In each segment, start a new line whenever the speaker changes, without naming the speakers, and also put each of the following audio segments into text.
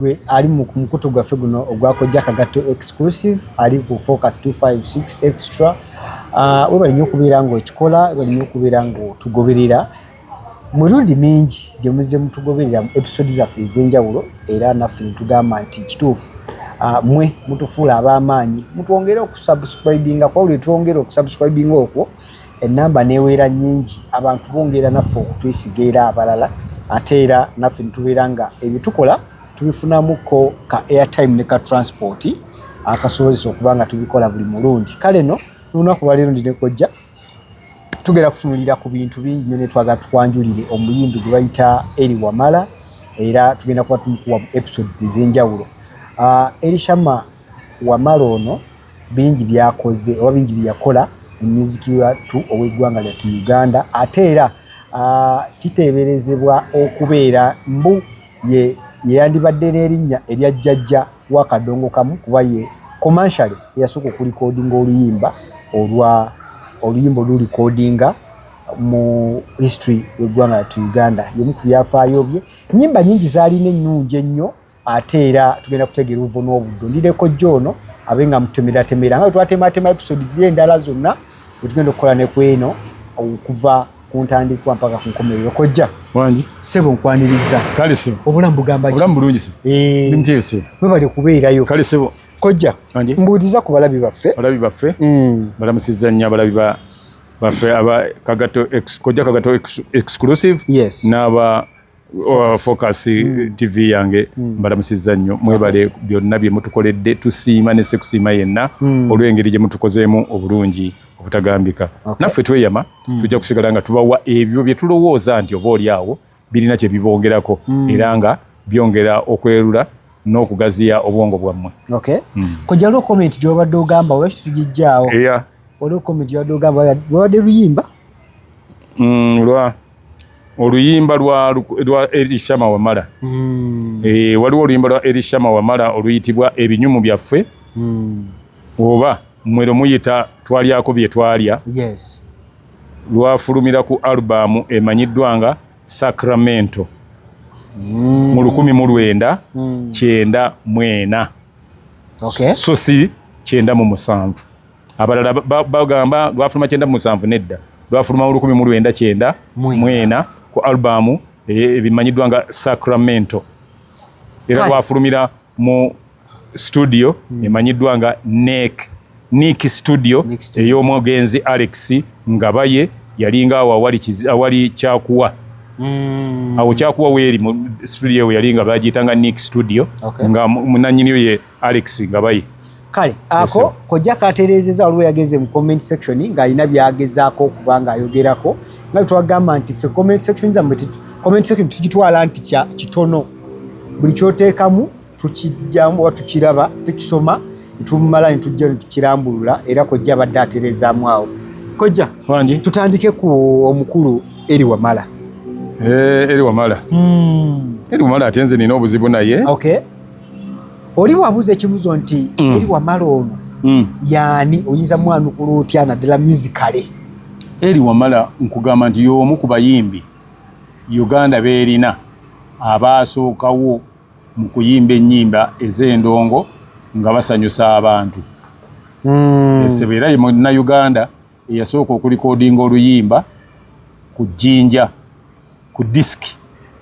gwe ali mu mukutu gwaffe guno ogwakojja kagatto exclusive ali ku focus 256 extra ah, webali nyo okubeera nga okikola webali nyo okubeera nga otugoberera mirundi mingi gye muzze mutugoberera mu episode zaffe ez'enjawulo era naffe netugamba nti kituufu ah, mwe mutufuula ab'amaanyi mutwongere okusubscribinga kwawuli twongere okusubscribinga okwo ennamba neweera nyingi abantu bongera naffe okutwesiga era abalala ate era naffe nitubeera nga ebitukola tubifunamuko ka airtime ne ka transport akasobozesa okuba nga tubikola buli mulundi kale no nolunaku lwaleero ndi nekojja tugenda kutunulira ku bintu bingi nyo netwagala tukwanjulire omuyimbi gwe bayita eri wamala era tugenda kuba tumukuwa episodes ezenjawulo ah, erishama wamala ono bingi byakoze oba bingi byeyakola mu muziki wattu ow'eggwanga lyattu uganda ate era kiteeberezebwa okubeera mbu yeyandibadde n'erinnya erya jjajja wa kadongo kamu kuba ye komanshale eyasooka okulikodinga oluyimba olwa oluyimba olulikodinga mu history w'eggwanga lyattu uganda yomu ku byafaayo bye nyimba nyingi zaalina ennungi ennyo ate era tugenda kutegeera obuvo n'obuddo ndideko jjo ono abe nga mutemeratemera nga twatemaatema episodes ye endala zonna wetugenda okukola ne ku eno okuva ku ntandikwa mpaka ku nkomerero kojja wangi sebo
nkwaniriza
kale sebo obulamu
bugamba obulamu
bulungi sebo eh.
nimutyeyo sebo webale kubeerayo
kale sebo kojja mbuuliza ku balabi baffe balabi baffe
mm. balamusizza nnyo abalabi ba baffe aba kagato kojja kagato exclusive yes n'aba focus mm. tv yange mm. mbalamusizza nnyo mwebale okay. byonna bye mutukoledde tusiima ne sekusiima yenna mm. olw'engeri gye mutukozeemu obulungi obutagambika okay. naffe tweyama mm. tujja kusigala nga tubawa ebyo bye tulowooza nti oba oli awo birina kye bibongerako mm. era nga byongera okwerula n'okugaziya obwongo bwammwe okay. mm. kojja lwo
comment gyobadde ogamba olwaki tugijjaawo yeah. olwo comment gyobadde ogamba wabadde luyimba mm, lwa
oluyimba lwa lwa Elishama Wamala mm. e, waliwo oluyimba lwa Elishama Wamala oluyitibwa ebinyumu byaffe mm. oba mwero muyita twalyako bye twalya yes.
lwafulumira
ku alubamu emanyiddwa nga Sacramento mm. mu lukumi mu lwenda mm. kyenda mwena okay. so si kyenda mu musanvu abalala bagamba lwafuluma kyenda mu musanvu nedda lwafuluma mu lukumi mu lwenda kyenda mwena ku albamu e, ebimanyiddwa nga sacramento era lwafulumira mu studio hmm. emanyiddwa nga nek nik studio ey'omugenzi alex ngabaye yalinga awo awali kyakuwa hmm. awo kyakuwa weeri mu studio we yalinga bagiyitanga nik studio nga munanyiniyo ye Alex Ngabayi kale ako kojja
katereezeza waliwo yageze mu comment section ng'alina byagezaako okuba ng'ayogerako nga twagamba nti fe comment section zammwe comment section tukitwala nti kitono buli kyoteekamu tukijjamu oba tukiraba tukisoma tumala ne tujja ne tukirambulula era kojja abadde atereezaamu awo kojja wangi tutandike
ku
omukulu eri wamala eh,
eri wamala hmm. eri wamala ate nze nina obuzibu naye okay.
oli wabuuza ekibuzo nti mm. eri wamala ono mm. yaani oyinza mwanukula otya naddala musicale eri
wamala nkugamba nti y'omu ku bayimbi uganda beerina abaasookawo mu kuyimba ennyimba ez'endongo nga basanyusa abantu mm. esebo era ye munnauganda eyasooka okulikodinga oluyimba ku jjinja ku disiki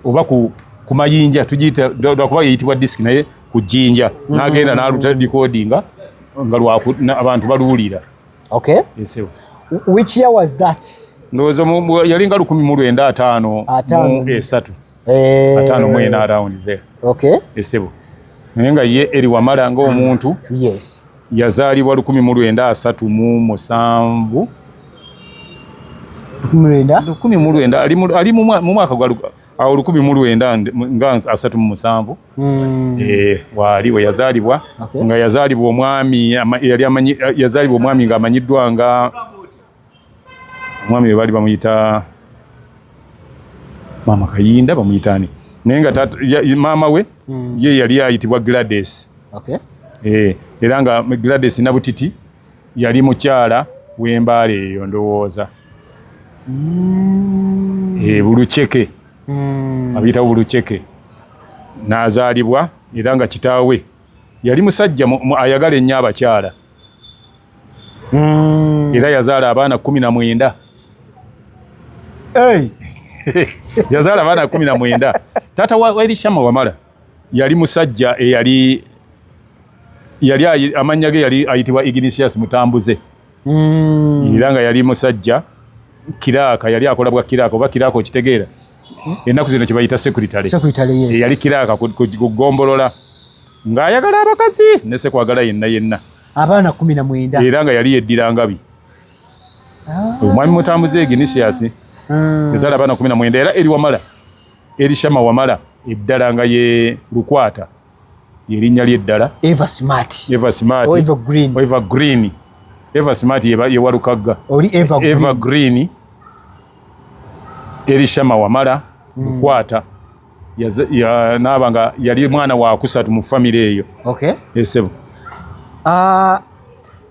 oba ku ku mayinja tugiyita lwakuba yeyitibwa disiki naye ku jjinja mm-hmm. n'agenda n'alutalikodinga nga abantu baluwulira okay esewo
which year was that ndowooza
yalinga lukumi mu lwenda ataano mu esatu eh. ataano mu ena around there okay esebo naye nga ye eri wamala nga omuntu yes yazaalibwa lukumi mu lwenda asatu mu musanvu lukumi mu lwenda ali mu mwaka gwa awo lukumi mu lwenda nga asatu mu musanvu hmm. eh, waali we yazaalibwa nga yazaalibwa omwami yali yazaalibwa omwami ng'amanyiddwa nga omwami webali bamuyita maama kayinda bamuyitani naye nga maama we mm. ye yali ayitibwa glades okay. e, era nga glades nabutiti yali mukyala wembaala eyo ndowooza mm. e, buluceke mm. abiyitawo buluceke nazaalibwa era nga kitaawe yali musajja ayagala ennyo abakyala mm. era yazaala abaana kumi na mwenda hey. yazaala abaana kumi na mwenda taata wa elishama wamala yali musajja eyali yali amannya ge yali ayitibwa ignisius mutambuze mm. era nga yali musajja kiraaka yali akola bwa kiraaka oba kiraaka okitegeera hmm? ennaku zino kyebayita sekuritale eyali kiraaka ku gombolola ng'ayagala abakazi nesekwagala yenna yenna abaana kumi na
mwenda era nga yali yeddira
ngabi ah. omwami mutambuze eginisias hmm. ezala abaana kumi na mwenda era eri wamala eri shama wamala eddala nga ye lukwata yerinnya lyeddala eva smart
eva smart
oh, eva green eva smart yewalukagga oli eva
green
eri shama wamala hmm. lukwata mm. naaba nga yali mwana wakusatu mu famiry eyo esebo eh, ah,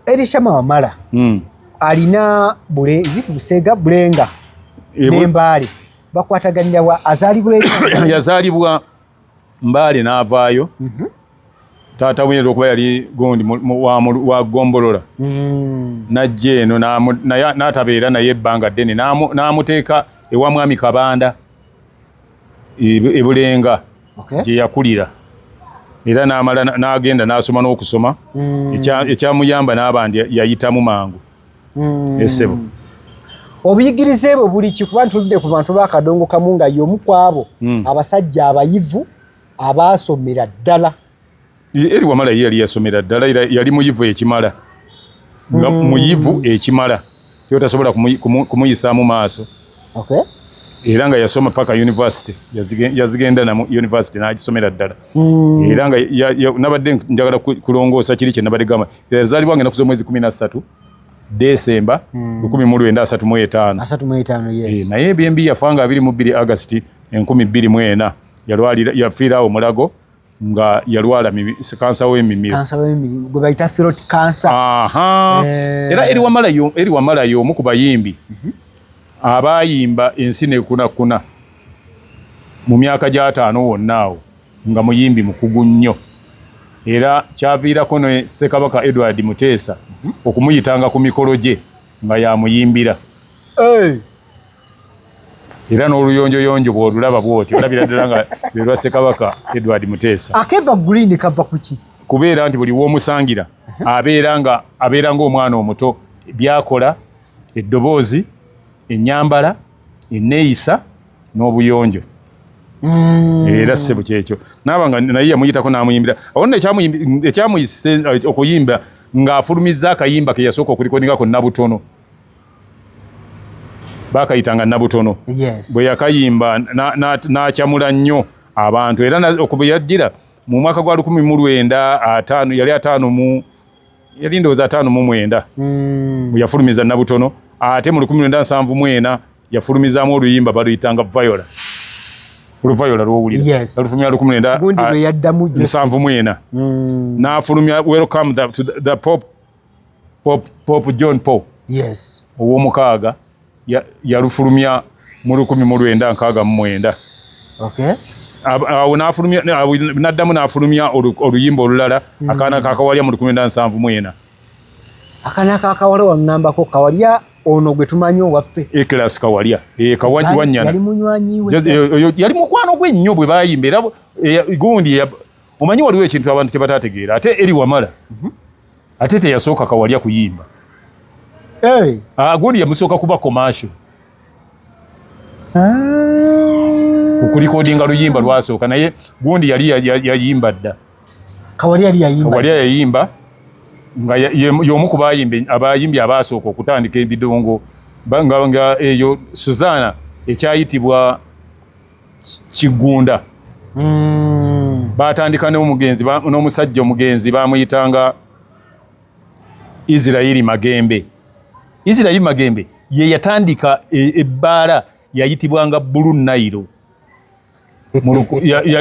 erishama wamala hmm. alina bule ziti busega bulenga eh, nembaale bakwataganira wa azalibwa yazalibwa
mbaale n'avaayo mhm. taata wine lwokuba yali gundi wa gombolola hmm. najja eno n'atabeera naye ebbanga ddene n'amuteeka ewa mwami kabanda ebulenga okay. gye yakulira era namala nagenda nasoma n'okusoma mm. ekyamuyamba n'aba ndi yayitamu mangu mm. esebo
obuyigirize bwe buli kikuba ntuludde ku bantu bakadongo kamu nga yomu kwabo mm. abasajja abayivu abaasomera ddala Eri
wamala ye yali yasomera ddala era yali muyivu ekimala nga mm. muyivu ekimala kyotasobola kumuyisaamu maaso okay. era nga yasoma paka university yazigenda na university nagisomera ddala mm. era nga nabadde njagala kulongoosa kiri kyenabadde gamba yazaalibwa ngenda kuza omwezi kumi nassatu desemba mm. lukumi mu lwenda asatu mu etaano eh, naye ebyembi
yafa nga
abiri mu bbiri agasti enkumi bbiri mu ena yafiiraawo mulago nga yalwala kansa w'emimiro kansa w'emimiro gwe bayita
throat cancer aha eh.
era eri wamala yo eri wamala yo omu ku bayimbi mhm. abayimba ensi ne kuna kuna mu myaka gy'ataano wonna awo nga muyimbi mukugu nnyo era kyaviirako ne ssekabaka edward muteesa mhm. okumuyitanga ku mikolo gye nga yamuyimbira era n'oluyonjoyonjo bw'olulaba bw'oti olabira ddala nga lwe lwa Ssekabaka Edward Muteesa. Akeva green kava
ku ki? Kubeera nti buli
w'omusangira abeera nga abeera ng'omwana omuto by'akola eddoboozi ennyambala enneeyisa n'obuyonjo mm. era ssebo kyekyo naaba nga naye yamuyitako n'amuyimbira awo nno ekyamuyise eh, okuyimba ng'afulumizza akayimba ke yasooka okulikoningako nabutono bakayitanga nabutono yes. bwe yakayimba n'akyamula na, na nnyo abantu era okuba yajjira mu mwaka gwa lukumi mu lwenda ataano yali ataano mu yali ndowooza ataano mu mwenda mm. yafulumiza nabutono ate mu lukumi lwenda nsanvu mwena yafulumizaamu oluyimba baluyitanga viola oluvayola lwowulira alufulumya lukumi lwenda nsanvu mwena mm. n'afulumya welcome the, to the, the pop Pope John Paul yes. ow'omukaaga yalufulumya ya mu lukumi mu lwenda nkaaga mu mwenda okay. awo n'addamu n'afulumya oluyimba olulala mm. akaana kakawalya mu lukumi enda nsanvu mwena
akaana kakawala waŋŋambako kawalya ono gwe tumanyi owaffe ekilasi kawalya
eh, kawanywanyanayali
eh, mukwano gwe
nnyo bwe bayimba era eh, gundi omanyi waliwo ekintu abantu kye batategeera ate eri wamala mm -hmm. ate teyasooka kawalya kuyimba hey. Eh. aguli ah, yamusooka kuba komasho ah. okulikodinga luyimba lwasooka naye gundi yali yayimba dda
kawalya yayimba
nga yomu ku abayimbi abaasooka okutandika ebidongo nga eyo suzana ekyayitibwa Kigunda mm. batandika n'omugenzi n'omusajja omugenzi bamuyitanga Israeli Magembe. Israeli Magembe ye yatandika e, ebbaala e yayitibwanga Blue Nile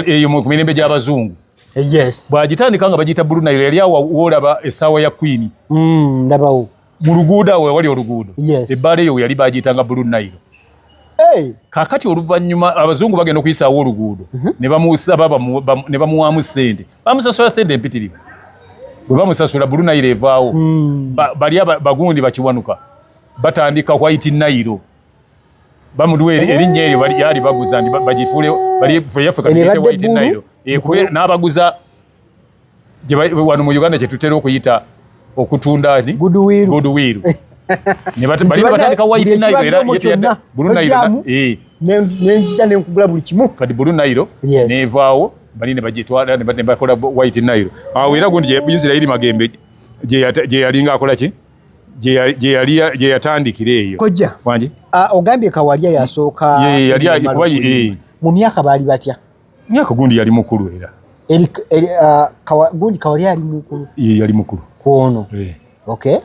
eyo mu mirembe gy'abazungu yes. bwagitandika nga bagiyita Blue Nile yali awo woolaba essaawa ya kwini mm, ndabawo mu luguudo awo wali oluguudo ebbaala eyo yali bagiyitanga bulu nayiro kakati oluvannyuma abazungu bagenda okuyisaawo oluguudo mhm. ne bamusaba ne bamuwaamu ssente bamusasula ssente empitirivu bwe bamusasula bulu nayiro evaawo hmm. bali bagundi bakiwanuka batandika white nayiro bamuduwa erinnya eryo yali baguza ndi bagifuule bali yaffe kati white nayiro n'abaguza wano mu uganda kyetutera okuyita okutunda goodwill nebatandika white nile era yeteyadda bulu nile eh. nenzija
nenkugula buli kimu kati bulu nile
nevaawo bali nebagitwala nebakola white nile awo era gundi isirairi magembe gyeyalinga akolaki gyeyatandikira eyo kojja
ogambye
kawalya
yasooka
mu myaka baali
batya Myaka gundi yali
mukulu era. Eri, eri uh, kawa, gundi
kawali yali mukulu. Ye yali mukulu.
Kuono. Ye. Eh.
Okay.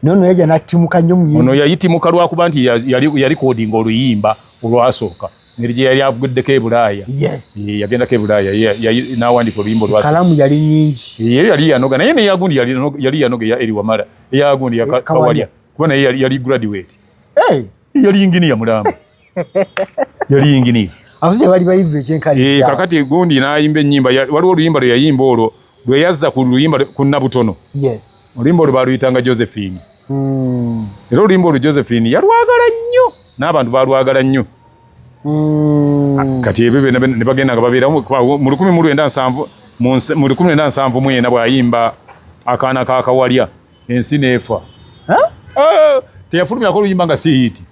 Nono yaja natimuka nyo mwizi. Ono yayitimuka lwakuba
nti yali yali coding oluyimba olwasooka. Nirije yali avugudde ke bulaya. Yes. Ye yagenda ke bulaya. Ye yali nawandi ko luyimbo lwasooka. Kalamu yali nyingi.
Ye yali yanoga naye ne
yagundi yali yali yanoga ya eri wamara. Ya gundi ya eh, kawali. Kuona yali yali graduate. Eh. Hey. yali yinginiya mulamba yali yinginiya abasajja bali bayivu
ekyenkani eh, kakati gundi
nayimba enyimba waliwo oluyimba lwe yayimba olwo lwe yazza ku luyimba ku nabutono yes oluyimba olwo baluyitanga josephine hmm. era oluyimba olwo josephine yalwagala nnyo n'abantu balwagala nnyo hmm. ah, kati ebyo byona ne bagenda nga babeeramu mu lukumi mu lwenda nsanvu mu lukumi lwenda nsanvu mwena bwayimba akaana kakawalya ensi neefa ah, teyafulumyako oluyimba nga si hiiti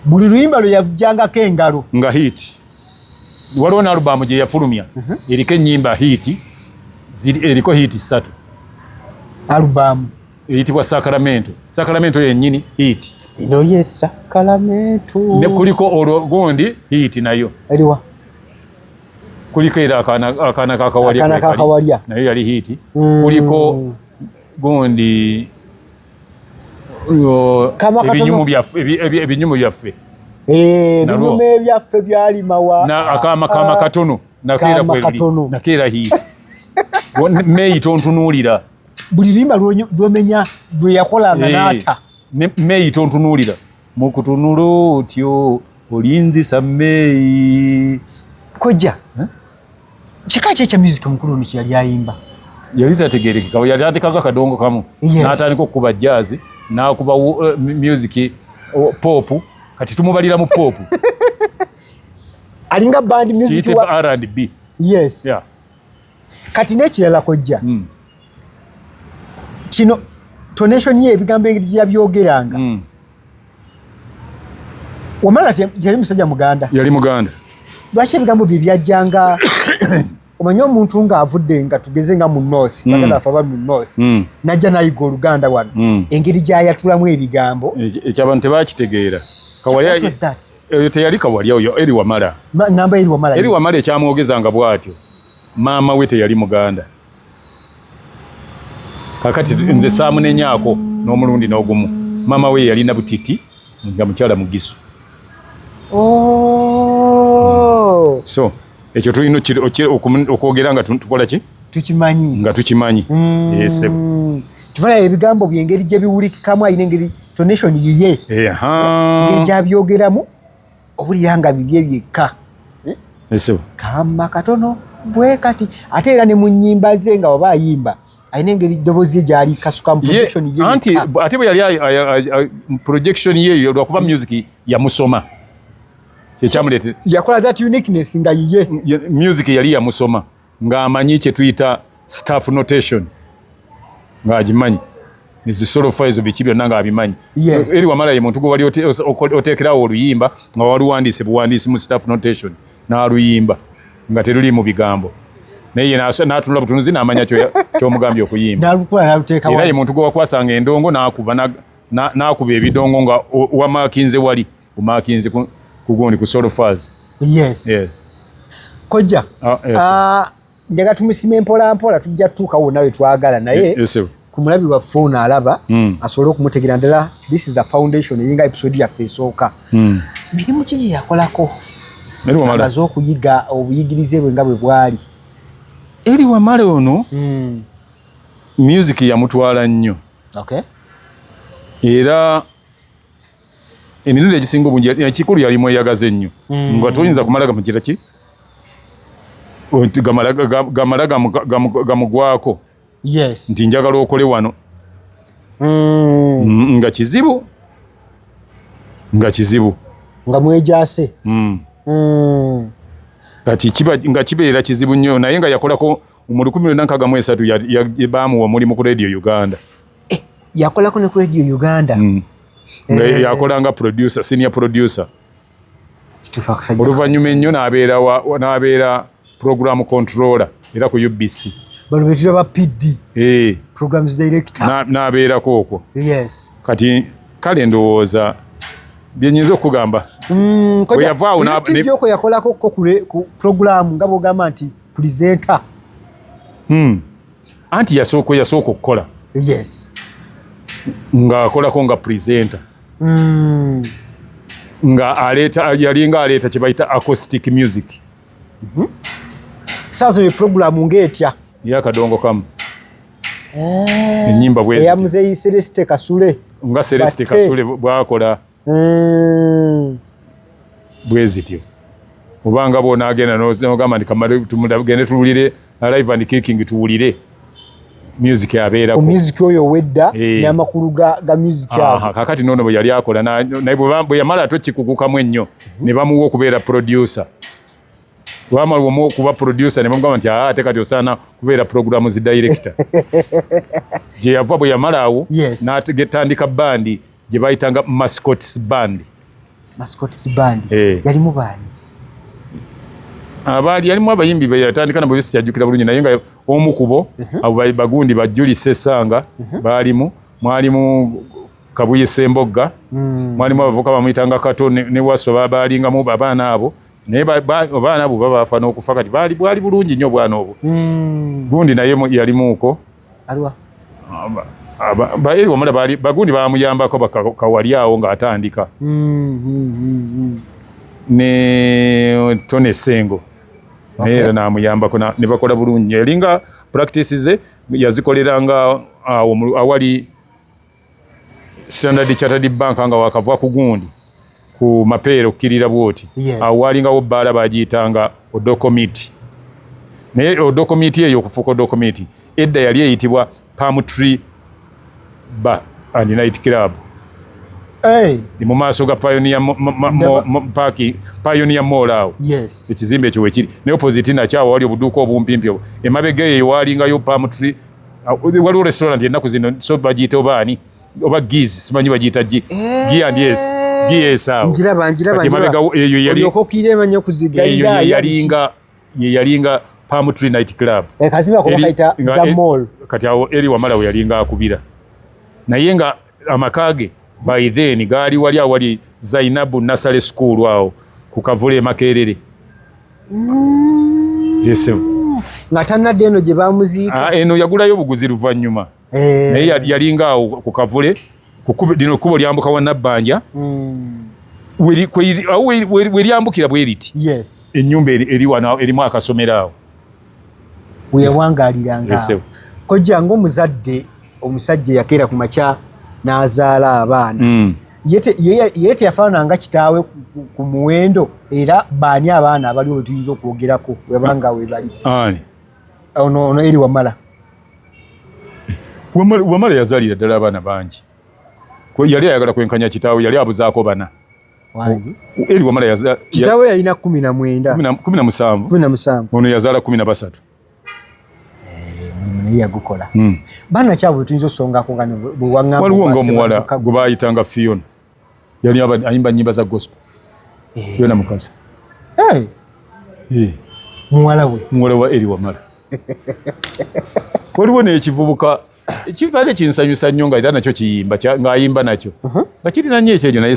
buli luyimba lwe yajjangako engalo nga hiiti
waliwo ne alubamu gye yafulumya uh-huh. eriko ennyimba hiiti eriko hiiti ssatu
alubamu eyitibwa
sakaramento sakaramento yennyini hiiti ino ye
sakaramento ne kuliko
olwo gundi hiiti nayo eriwa kuliko era akaana kakawalya naye yali hiiti mm. kuliko gundi ebinyumu byaffe ebinyumu byaffe eh,
ebyaffe byalimawa akaama kaama ah, katono
nakeera kweli nakeera hiiti meyi tontunuulira buli limba
lwomenya lweyakolanga eh, naata meyi
tontunuulira mukutunula otyo olinzisa mmeeyi kojja
eh? kika ki ekya music omukulu ono kyeyali ayimba yali
tategerekeka yali atekaga kadongo kamu natandika okukuba jazzi nakuba eh, music popu kati tumubalira mu popu
alinga band music wa R&B
yes yeah
kati nekirala kojja mm. kino tonation ye ebigambo engeri gyeyabyogeranga mm. wamala yali musajja muganda yali muganda
lwaki ebigambo
bye byajjanga omanyi omuntu ng'avudde nga tugeze nga mu north mm. baganda afe abali mu north mm. najja nayiga oluganda wano mm. engeri gyayatulamu ebigambo e, e, ekyabantu
tebakitegeera Eyo teyali kawalya oyo eri wamala. Ngamba eri wamala. Eri
wamala
ekyamwogeza nga bwatyo. Maama we teyali muganda. Kakati nze saamunenyako n'omulundi n'ogumu. Maama we yalina butiti nga mukyala mugisu. Oh. So. ekyo tulina okwogera nga tukola ki tukimanyi nga
tukimanyi
mm. yes
tuvala ebigambo byengeri gye biwulikikamu ayina engeri tonation yiye ngeri gyabyogeramu obulira nga bibye byekka eh? kama katono bwe kati ate era ne mu nnyimba ze nga oba ayimba alina engeri eddoboozi ye gyali kasuka muanti ate bwe yali
projection yeyo lwakuba music yamusoma kyekyamulete yakola that
uniqueness nga yiye music yali
yamusoma nga amanyi kyetuyita staff notation nga agimanyi nezisolofa ezo biki byonna nga abimanyi yes. eri wamala ye muntu gwewali oteekerawo oluyimba nga waluwandiise buwandiisi mu staff notation n'aluyimba nga teruli mu bigambo naye natunula butunuzi namanya kyomugambye okuyimbaera ye muntu gwewakwasanga endongo nakuba nakuba ebidongo nga wamakinze wali Kumakinzi ku kugundi ku solo faz. Yes. Yeah.
Koja. Ah, uh, yes. uh, njaga tumusime mpola mpola tujja tuka wo nawe twagala naye. Yes. Kumulabi wa phone alaba mm. asolo kumutegera ndala this is the foundation yinga episode ya fesoka. Mm. Mirimu kiji yakolako. Mirimu mala. Abazo kuyiga obuyigirize bwe ngabwe bwali. Eri
wa male ono. Mm. Music ya mutwala nnyo. Okay. Era emirundi egisinga obungi ekikulu yali mweyagaza ennyo mm. nga toyinza kumala gamugira ki gamala gamugwako
nti njagala okole
wano mm. nga kizibu nga kizibu
nga mwejase mm.
kati nga kibeera kizibu nnyo naye nga yakolako mu lukumi lwona nkaga mu esatu bamuwa omulimu ku radio uganda eh, yakolako
ne ku radio uganda mm. Eh, nga
eh, yakola nga producer senior producer oluvannyuma ennyo nabeera nabeera program controller era ku ubc bano betira ba
pd eh. programs director nabeerako okwo
yes kati kale ndowooza byenyinza okugamba mm,
weyavaawoyoko yakolako ko ku program nga bwogamba nti presenter hmm.
anti yasooka yasooka okukola yes ng'akolako nga presenter mm. nga aleeta yalinga aleeta kye bayita acoustic music mm
-hmm. saazo ye programu ng'etya yakadongo kamu
eh, enyimba bweeyamuzeyi celeste
kasule nga celeste
kasule bwakola hmm. bwe zityo obanga bwonagenda nogamba nti kamale tumugende tuwulire alive and kicking tuwulire music abeerako music oyo owedda
eh. n'amakulu ga, ga music awo kakati noono bwe yali akola
naye bwe yamala ate okikugukamu ennyo mhm. ne bamuwa okubeera producer wamala omu okuba producer ne bamugamba nti ate kati osaana kubeera programu zi director gye yava bwe yamala awo n'agetandika bandi gye bayitanga mascots band mascots band eh.
yalimu baani abaali
yalimu abayimbi beyatandika nabo besiyajukira bulungi naye nga omu kubo mhm. abo bagundi bajuli sesanga mhm. baalimu mwalimu kabuye sembogga mm. mwalimu abavuka bamuyitanga kato ne waso babaalingamu abaana abo naye abaana abo babafa n'okufa kati bwali bulungi nnyo obwana obwo mm. gundi naye yalimuuko aliwa baeri wamala bali bagundi bamuyambako bakawali awo nga atandika mm, mm, mm, ne tone sengo okay. era namuyambako ne bakola bulungi elinga practice ze yazikolera nga awali Standard Chartered Bank nga wakavwa ku gundi ku mapeera okukirira bwoti yes. awo walingawo bbaala bagiyitanga odokomiti naye odokomiti eyo okufuuka odokomiti edda yali eyitibwa palm tree bar and night club hey. mu maaso ga pionia paaki pionia mall awo yes. ekizimbe ekyo wekiri naye opposite nakyawo wali obuduuka obumpimpi emabega eyo walingayo palm tree waliwo restaurant ennaku zino so bagiyita oba ani oba giz simanyi bagiyita gi eh. gi and yes gi yes awo njiraba njiraba njiraba eyo yali okokire manyo kuziga eyo yalinga ye yalinga palm tree night club eh kaziba ko kaita the mall kati awo eri wamala we yalinga akubira naye nga amaka ge by then gaali wali awali zainabu nasale school awo ku kavule emakerere mm.
yesem nga tanadde eno gye bamuziika ah, eno yagulayo obuguzi
luvannyuma eh. naye yalinga awo ku kavule lino kkubo lyambuka wa nabbanja mm. weryambukira bweriti enyumba erimu akasomero awo weyawangaliranga
kojja ngaomuzadde omusajja yakeera ku makya n'azaala abaana hmm. ye teyafaananga kitaawe ku muwendo era baani abaana abaliwo betuyinza okwogerako webanga webali ono eri wamala
wamala yazalira ddala abaana bangi yali ayagala kwenkanya kitaawe yali abuzaako bana wangi eli wamala yaza kitawe
yalina 19 17 17 ono yazala 13
naye
yagukola hmm. bana kyabwe tuyinza osongako nga bwewangamba waliwo nga
omuwala gwe bayitanga fiona yali ayimba nyimba za gospel eh. fiona mukazi eh. Eh.
muwala we muwala wa eri
wamala waliwo nekivubuka ekibale kinsanyusa nnyo nga era nakyo kiyimba ng'ayimba nakyo uh-huh. nga kirina nnyo ekyenyo naye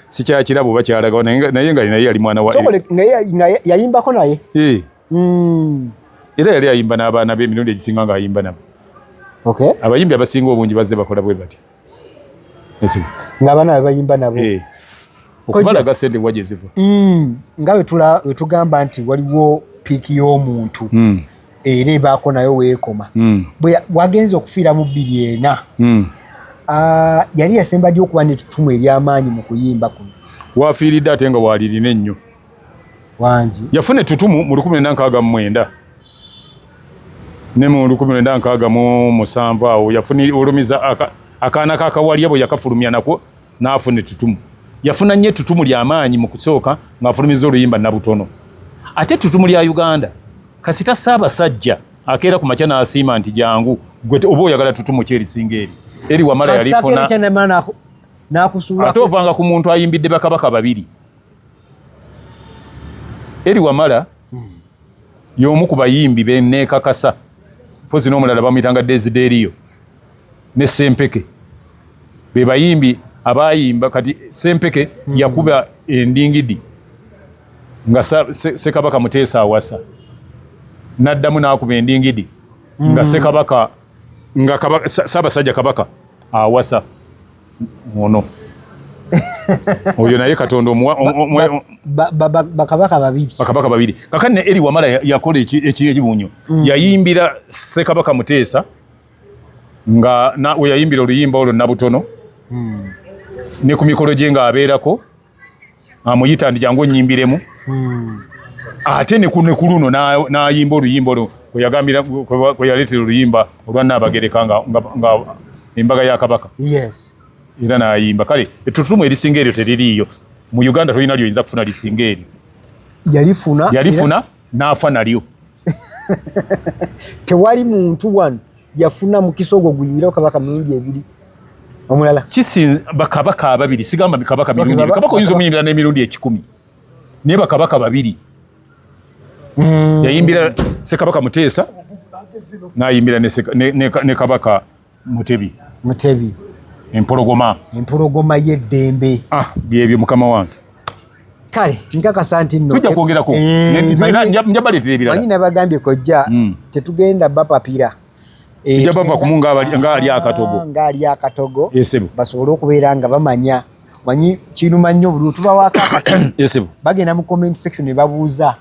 sikyakirabo oba kyalagawo naye nga naye yali mwana wanaye yayimbako
naye eh. hmm.
era yali ayimba n'abaana be emirundi egisinga ng'ayimba nabo abayimbi abasinga obungi bazze bakola bwe bati ng'abaana
be bayimba nabo eh. okumalaga
sente wa gye ziva hmm. nga
wetugamba nti waliwo piiki y'omuntu hmm. era ebaako nayo weekoma hmm. wagenza okufiira mu bbiri ena hmm. ah, yali yasemba ddi okuba netutumu eryamaanyi mu kuyimba kuno wafiiridde ate nga
waalirina ennyo wangi
yafuna ettutumu
mu lukumi nenda nkaaga mumwenda ne mu lukumi nenda nkaaga mu musanvu awo yafuna olumiza akaana kakawalya bwe yakafulumya nakwo n'afuna ettutumu yafuna nnyo ettutumu ly'amaanyi mu kusooka ng'afulumiza oluyimba nabutono ate ettutumu lya uganda kasita ssaabasajja akeera ku makya n'asiima nti jangu gwe oba oyagala ttutumu ki erisinga eri eri wamala yalifuna ate ovanga ku muntu ayimbidde bakabaka babiri eri wamala hmm. y'omu ku bayimbi beneekakasa mpozi n'omulala bamuyitanga desideeriyo ne sempeke bebayimbi abayimba kati sempeke mm. yakuba endingidi nga sekabaka muteesa awasa naddamu nakuba endingidi mm. nga sekabaka nga sabasajja kabaka awasa ono oyo naye katonda omuwa
bakabaka babiri bakabaka babiri kakani ne eri wamala
yakola ekibunyo mm. yayimbira sekabaka muteesa nga na we yayimbira oluyimba olwo nabutono mm. ne ku mikolo gye nga abeerako amuyita ndi jangu onyimbiremu mm. ate ne ku luno n'ayimba oluyimba olwo kwe yagambira kwe yaleetera oluyimba olwa naabagereka nga, nga, nga embaga ya kabaka yes.
era n'ayimba
kale ettutumu erisinga eryo teririiyo mu uganda tolina lyoyinza kufuna lisinga eryo yalifuna yalifuna n'afa nalyo
tewali muntu wano yafuna mukisa ogwo guyimirao kabaka mirundi ebiri omulala kisinze bakabaka
ababiri sigamba kabaka mirundi ebiri kabaka oyinza omuyimbira n'emirundi ekikumi naye bakabaka babiri hmm. yayimbira sekabaka muteesa nayimbira ne kabaka mutebi mutebi empologoma empologoma yeddembe ah,
byebyo mukama
wange kale
nkakasa nti
nonjabaleterebiramanyi eh, nabagambye kojja hmm.
tetugenda bapapira eh, tujja bava
kumu ngaali akatogo ah, ngaali akatogo basobole
okubeera nga bamanya manyi kinuma nnyo buli otubawako akatogo bagenda mu comment section nebabuuza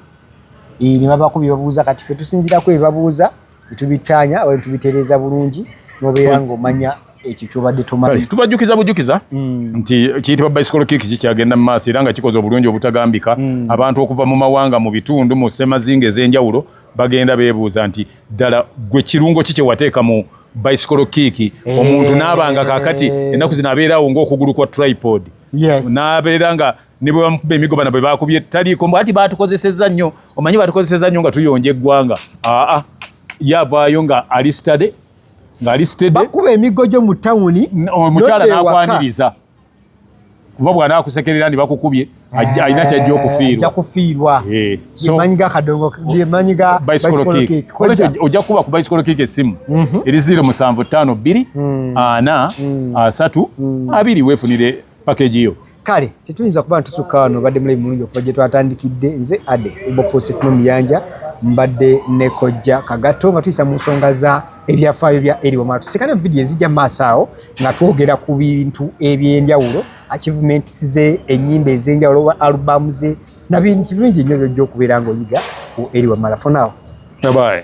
eh, nebabako byebabuuza kati fe tusinzirako ebabuuza Tubittaanya oba tubitereeza bulungi n'obeera ng'omanya ekyo kyobadde tomanyi. Tubajjukiza bujjukiza mm.
nti kiyitibwa bicycle kick kikyagenda mu maaso era nga kikoze obulungi obutagambika. Mm. Abantu okuva mu mawanga, mu bitundu, mu ssemazinga ez'enjawulo bagenda beebuuza nti ddala gwe kirungo ki kye wateeka mu bicycle kick eh. omuntu n'aba nga kaakati ennaku zino abeerawo ng'okugulu kwa tripod. Yes. N'abeera nga ne bwe bamukuba emigo bana bwe bakubye taliiko mbu ati batukozeseza nnyo omanyi batukozeseza nnyo nga tuyonja eggwanga aa ye avaayo nga ali stade ng'ali stade
bakuba emigo gyo mu tawuni omukyala
n'akwaniriza kuba bwana akusekerera ndi bakukubye eh, alina kyajja okufiirwakufiirwa eh, ojja kukuba ku bicycle kick essimu mhm. eri ziro musanvu ttaano bbiri mm. ana mm. asatu mm. abiri weefunire package yo kale tetuyinza kuba
ntusukka wano badde mulayi mulungi okuva gye twatandikidde nze ade ubofuusi kumu muyanja mbadde ne kojja kagatto nga tuyisa mu nsonga za ebyafaayo bya eri wamala tusikane mu vidiyo ezijja mu maaso awo nga twogera ku bintu eby'enjawulo achievements ze ennyimba ez'enjawulo oba alubamu ze na bintu bingi nnyo
byojja
okubeera ng'oyiga ku eri wamala fonawo babaye